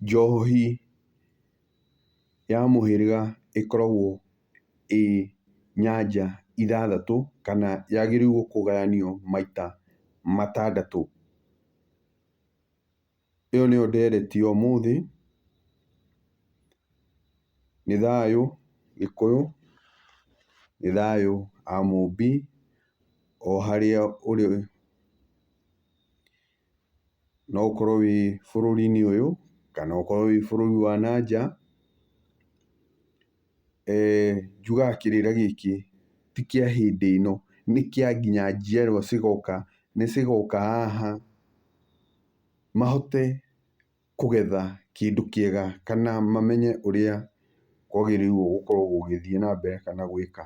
Njohi ya mũhĩrĩga ĩkoragwo ĩ nyanja ithathatũ kana yagĩrĩirwo kũgayanio maita matandatũ. Ĩyo nĩyo ndereti ya ũmũthĩ. Nĩ thayũ Gĩkũyũ, nĩ thayũ Amũmbi o harĩa ũrĩ. no ũkorwo wĩ bũrũri-inĩ ũyũ, kana ũkorwo wĩ bũrũri wa na nja, njugaga kĩrĩra gĩkĩ ti kĩa hĩndĩ ĩno, nĩ kĩa nginya njiarwa cigoka, nĩ cigoka haha mahote... kũgetha kĩndũ kĩega kana mamenye ũrĩa kwagĩrĩirwo gũkorwo gũgĩthiĩ na mbere kana gwĩka.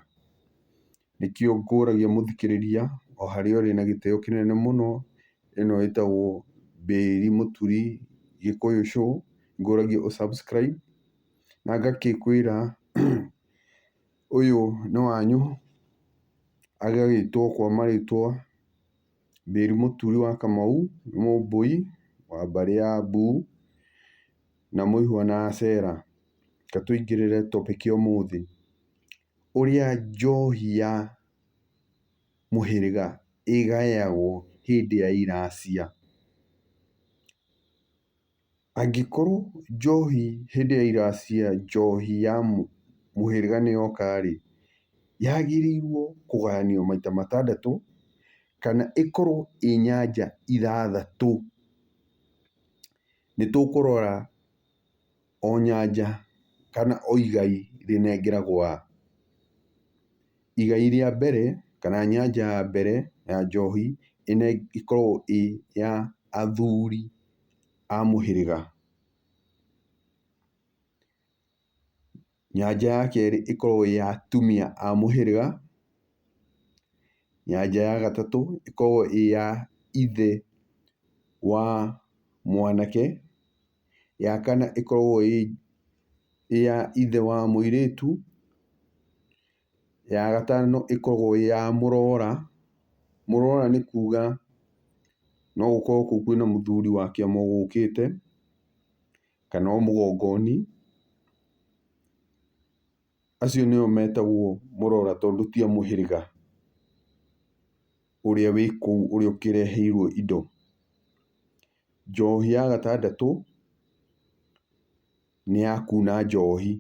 Nĩkĩo ngũragia mũthikĩrĩria o harĩa ũrĩ na gĩtĩo kĩnene mũno, ĩno ĩtagwo Bĩĩri Mũturi Gĩkũyũ Show, ngũragia ũ subscribe na ngagĩkwĩra ũyũ nĩ wanyu, agagĩtwo kwa marĩtwa. Mĩri mũturi wa Kamau, nĩ Mũmbũi wa mbarĩ ya Mbuu, na mũihwa na Acera. Reke tũingĩrĩre topic ya ũmũthĩ. Ũrĩa njohi ya mũhĩrĩga ĩgayagwo hĩndĩ ya iracia. Angĩkorwo njohi hĩndĩ ya ira cia njohi ya mũhĩrĩga nĩ yoka rĩ, yagĩrĩirwo kũgayanio maita matandatũ, kana ĩkorwo ĩ nyanja ithathatũ. Nĩ tũkũrora o nyanja kana o igai rĩnengeragwo a. Igai rĩa mbere, kana nyanja ya mbere ya njohi, ĩkoragwo ĩ ya athuri a mũhĩrĩga. Nyanjia ya kerĩ ĩkorwo ĩĩ ya atumia a mũhĩrĩga. Nyanjia ya gatatũ ĩkorwo ĩĩ ya ithe wa mwanake. Ya kana ĩkorwo ĩĩ ya ithe wa mũirĩtu. Ya gatano ĩkoragwo ĩ ya mũrora, mũrora nĩ kuga no gũkorwo kũu kwĩna mũthuri wa kĩama ũgũkĩte, kana o mũgongoni, acio nĩo metagwo mũrora tondũ ti a mũhĩrĩga ũrĩa wĩ kũu ũrĩa ũkĩreheirwo indo. Njohi ya gatandatũ, nĩ ya kuuna njohi.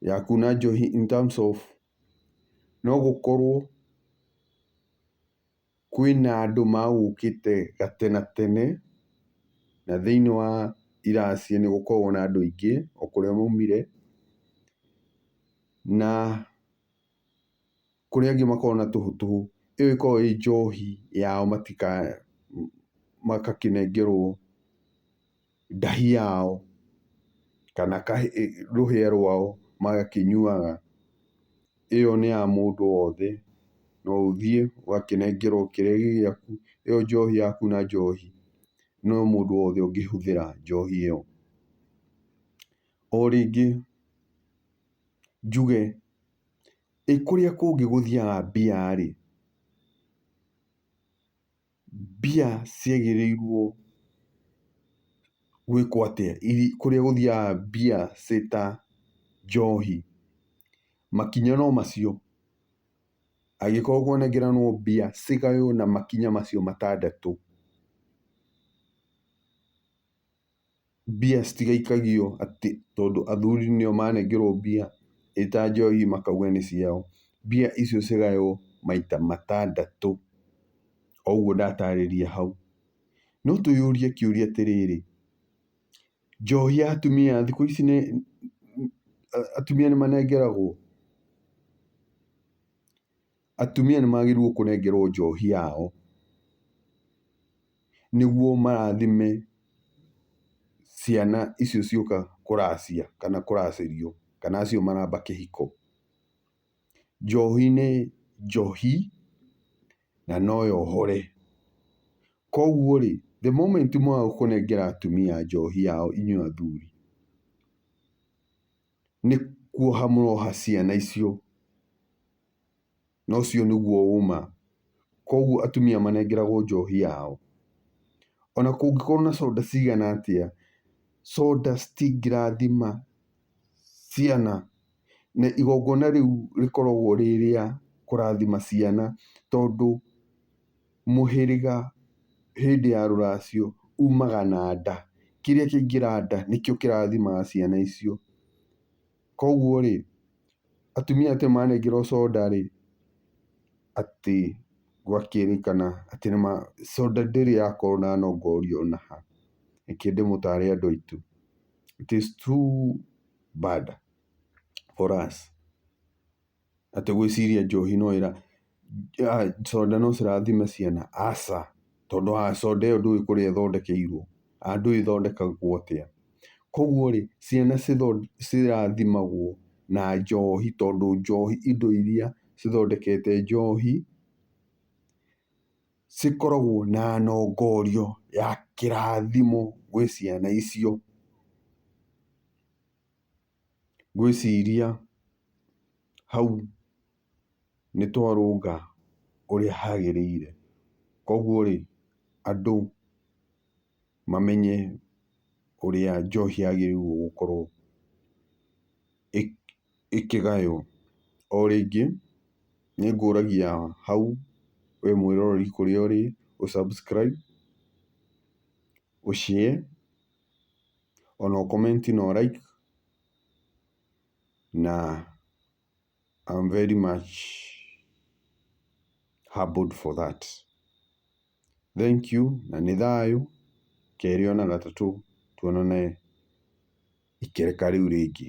ya kuuna njohi in terms of no gũkorwo kwĩna andũ magũkĩte gatene na tene, na thĩiniĩ wa iraci nĩ gũkoragwo na andũ aingĩ o kũrĩa maumire, na... kũrĩ angĩ makoragwo na tũhũ tũhũ, ĩyo ĩkoragwo ĩ njohi yao magakĩnengerwo ndahi yao kana rũhĩa rwao magakĩnyuaga. Ĩyo nĩ ya mũndũ wothe, no ũthiĩ ũgakĩnengerwo kĩrĩa gĩ gĩaku, ĩyo njohi yaku na njohi no mũndũ wothe ũngĩhũthĩra njohi ĩyo. O rĩngĩ njuge, ĩ kũrĩa kũngĩ gũthiaga mbia rĩ, mbia ciagĩrĩirwo gwĩkwo atĩa kũrĩa gũthiaga mbia ciĩ ta njohi? Makinya no macio. Angĩkorwo kwanengeranwo mbia cigaywo na makinya macio matandatũ. mbia citigaikagio atĩ tondũ athuri nĩo manengerwo mbia ĩta njohi makauga nĩ ciao. Mbia icio cigaywo maita matandatũ o ũguo ndatarĩria hau. No twĩyũrie kĩũria atĩrĩrĩ, njohi ya atumia thikũ ici nĩ, atumia nĩ manengeragwo? atumia nĩmagĩrĩirwo kũnengerwo njohi yao, nĩguo marathime ciana icio cioka kũracia kana kũracĩrio kana acio maramba kĩhiko. Njohi nĩ njohi na no yohore. Koguo rĩ, the moment mwaga kũnengera atumia njohi yao inyuĩ athuri. nĩ kuoha mũroha ciana icio, na ũcio nĩguo ũma. Koguo atumia manengeragwo njohi yao. Ona kũngĩkorwo na soda cigana atĩa, soda citingĩrathima ciana. Na igongona rĩu rĩkoragwo rĩ rĩa kũrathima ciana tondũ... mũhĩrĩga hĩndĩ ya rũracio umaga na nda, kĩrĩa kĩaingĩra nda nĩkĩo kĩrathimaga ciana icio. Koguo rĩ, atumia acio manengerwo soda rĩ, atĩ gũgakĩrĩkana atĩ nĩ ma, soda ndĩrĩ yakorwo na nongori ona ha. Reke ndĩmũtare andũ aitũ. It is too bad for us. atĩ gwĩciria njohi no ĩra, soda no cirathime ciana, aca. Tondũ wa soda ĩyo ndũĩ kũrĩa ĩthondekeirwo, kana ndũĩ ĩthondekagwo atĩa. Kũguo rĩ, ciana cirathimagwo na njohi tondũ njohi indo irĩa cithondekete njohi, cikoragwo na nongorio ya kĩrathimo gwĩ ciana icio. Ngwĩciria hau nĩ twarũnga ũrĩa hagĩrĩire. Koguo rĩ, andũ mamenye ũrĩa njohi yagĩrĩirwo gũkorwo ĩkĩgaywo. O rĩngĩ, nĩ ngũragia hau wĩ mwĩroreri kũrĩa ũrĩ ũ subscribe, ũ share. Ona ũ comment na ũ like na I'm very much humbled for that. Thank you na nĩ thayũ, kerĩ ona gatatũ tuonane ikereka rĩu rĩngĩ.